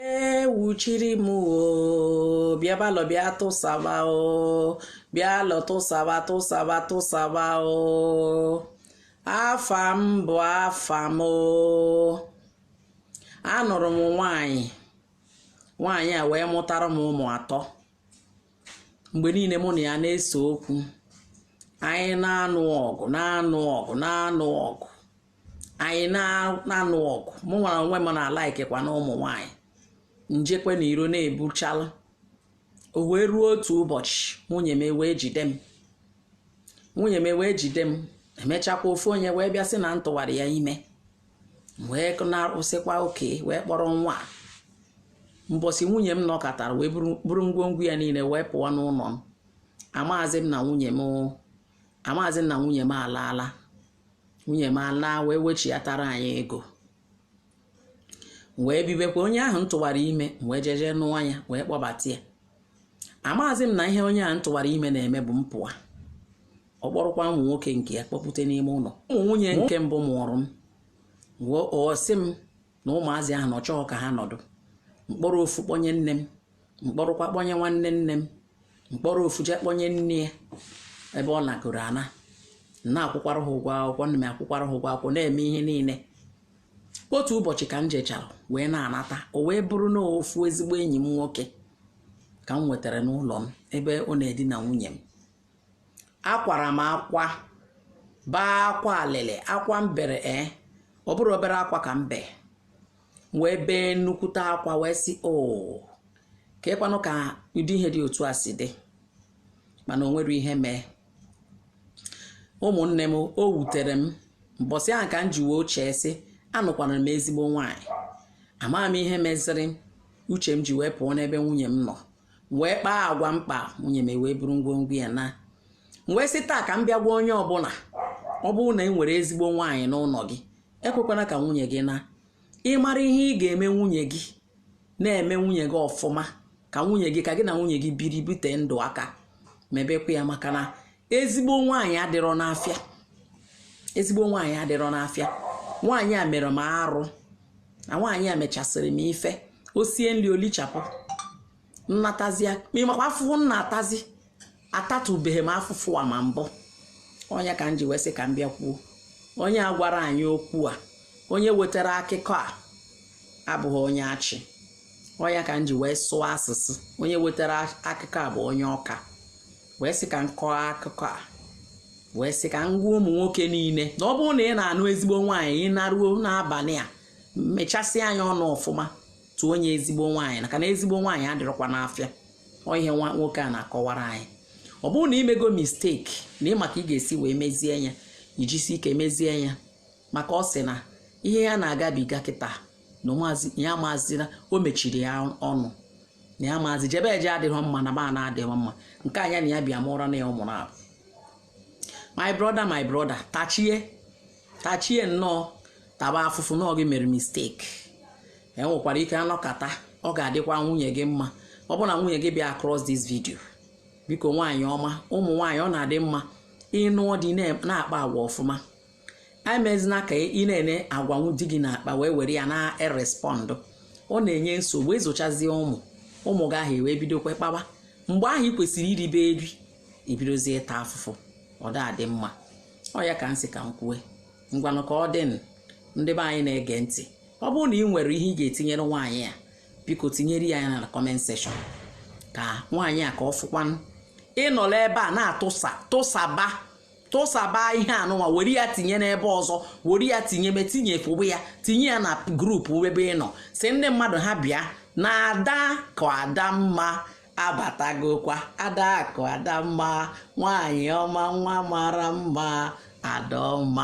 ewuchiri m o bịa balọ bịa tụsaba o bịa lọ tụsaba tụsaba tụsaba o afa m bụ afa m o anụrụ m nwaanyị nwaanyị a wee mụtara m ụmụ atọ mgbe niile mụ na ya na-ese okwu anyị na-anụ ọgụ na-anụ ọgụ na-anụ ọgụ anyị na-anụ ọgụ mụ nwere onwe m na-ala ikekwa na ụmụ nwaanyị m jekwa n'iro na-ebuchala o wee ruo otu ụbọchị nwunye m wee jide m nwunye m wee jide m emechakwa ofu onye wee bịa sị na m tụwara ya ime wee na-arụsịkwa oke wee kpọrọ nwa mbọsị nwunye m nọkọtara wee buru ngwongwo ya niile wee pụọ n'ụlọ m amaazị m na nwunye m amaazị m na nwunye m alaala nwunye m alaa wee wechiatara anyị ego wee bibekwa onye ahụ m tụwara ime wee jeje nụọ ya wee kpọbata ya amaazị m na ihe onye ahụ m tụwara ime na-eme bụ mpụa ọ kpọrọkwa ụmụ nwoke nke ya kpọpụta n'ime ụlọ ụmụ nwunye nke mbụ mụụrụ m wee ọ sị m na ụmụazị ahụ na ọ chọghị ka ha nọdụ m kpọrọ ofu kpọnye nne m m kpọrọkwa kpọnye nwanne nne m m kpọrọ ofu jee kpọnye nne ya ebe ọ nagoro ana m na-akwụkwara ha ụgwọ akwụkwọ ana m akwụkwara ha ụgwọ akwụkwọ na-eme ihe niile otu ụbọchị ka m jechara wee na-anata o wee bụrụ na ofu ezigbo enyi m nwoke ka m nwetara n'ụlọ m ebe ọ na-edina nwunye m akwara m akwa baa akwa alịlị akwa m bere ee eh, ọ bụrọ obere akwa ka m bee wee bee nnukwute akwa wee sị o oh, kekwanụ ka ụdị ihe dị otu a si dị mana o nwerọ ihe mee ụmụnne m o wutere m mbọsị ahụ ka m ji wee chee sị anụkwara m ezigbo nwaanyị amaghị m ihe meziri uche m ji wee pụọ n'ebe nwunye m nọ wee kpaa agwa m kpa nwunye m wee buru ngwongwo ya naa m wee sị taa ka m bịa gwa onye ọbụla ọ bụrụ na ị nwere ezigbo nwaanyị n'ụlọ gị ekwekwana ka nwunye gị naa ị mara ihe ị ga-eme nwunye gị na-eme nwunye gị ọfụma ka nwunye gị ka gị na nwunye gị biri bite ndụ aka mebekwa ya maka na ezigbo nwaanyị adịrọ n'afịa ezigbo nwaanyị adịrọ n'afịa nwaanyị a mere m arụ na nwaanyị a mechasịrị m ife o sie nri o lichapụ m na-atazi ya ị makwa afụfụ m na-atazi atatụbeghị m afụfụ a ma mbụ ọ nya ka m ji wee sị ka m bịa kwuo onye a gwara anyị okwu a onye wetara akụkọ a abụghị onye achị ọ ya ka m ji wee sụọ asụsụ onye wetara akụkọ a bụ onye ọka wee sị ka m kọọ akụkọ a wee sị ka m gwa ụmụ nwoke niile na ọ bụrụ na ị na-anụ ezigbo nwaanyị ị naruo n'abalị a mechasị anya ọnụ ọfụma tụọ onye ezigbo nwaanyị maka na ezigbo nwaanyị adịrọkwa n'afịa ọ ihe nwoke a na-akọwara anyị ọ bụrụ na i mego mistake na ị ma ka ị ga-esi wee mezie ya i jisi ike mezie ya maka ọ sị na ihe ya na-agabiga kịta na ya amazị na o mechiri ya ọnụ na ya amazị jebe eje adịghị mma naba ana adịghị mma nke a ya na ya bịa mụra na ya ụmụ naabọ my brother my brother tachie tachie nnọọ taba afụfụ na ọ gị mere mistake e nwekwara ike anọkata ọ ga-adịkwa nwunye gị mma ọ bụrụ na nwunye gị bịa across this video biko nwaanyị ọma ụmụ nwaanyị ọ na-adị mma ị nụọ di na-akpa agwa ọfụma emezina ka ị na-ene agwanwu di gị na-akpa wee were ya na-erespond ọ na-enye nsogbu ezochazie ụmụ ụmụ gị ahụ e wee bidokwa kpawa mgbe ahụ ị kwesịrị iribe eri i bidozie ịta afụfụ ọ dị mma ọ ya ka m sị ka m kwue ngwanụ ka ọ dị ndị be anyị na-ege ntị ọ bụrụ na ị nwere ihe ị ga-etinyere nwaanyị a biko tinyere ya na comment section ka nwaanyị a ka ọ fụkwanụ ị nọla ebe a na-atụsa tụsaba tụsaba ihe anụnwa were ya tinye n'ebe ọzọ were ya tinye me tinye fụbụ ya tinye ya na group ebe ị nọ sị ndị mmadụ ha bịa na ada ka ada mma abatagokwa ada ka ada mma nwaanyị ọma nwa mara mma ada ọma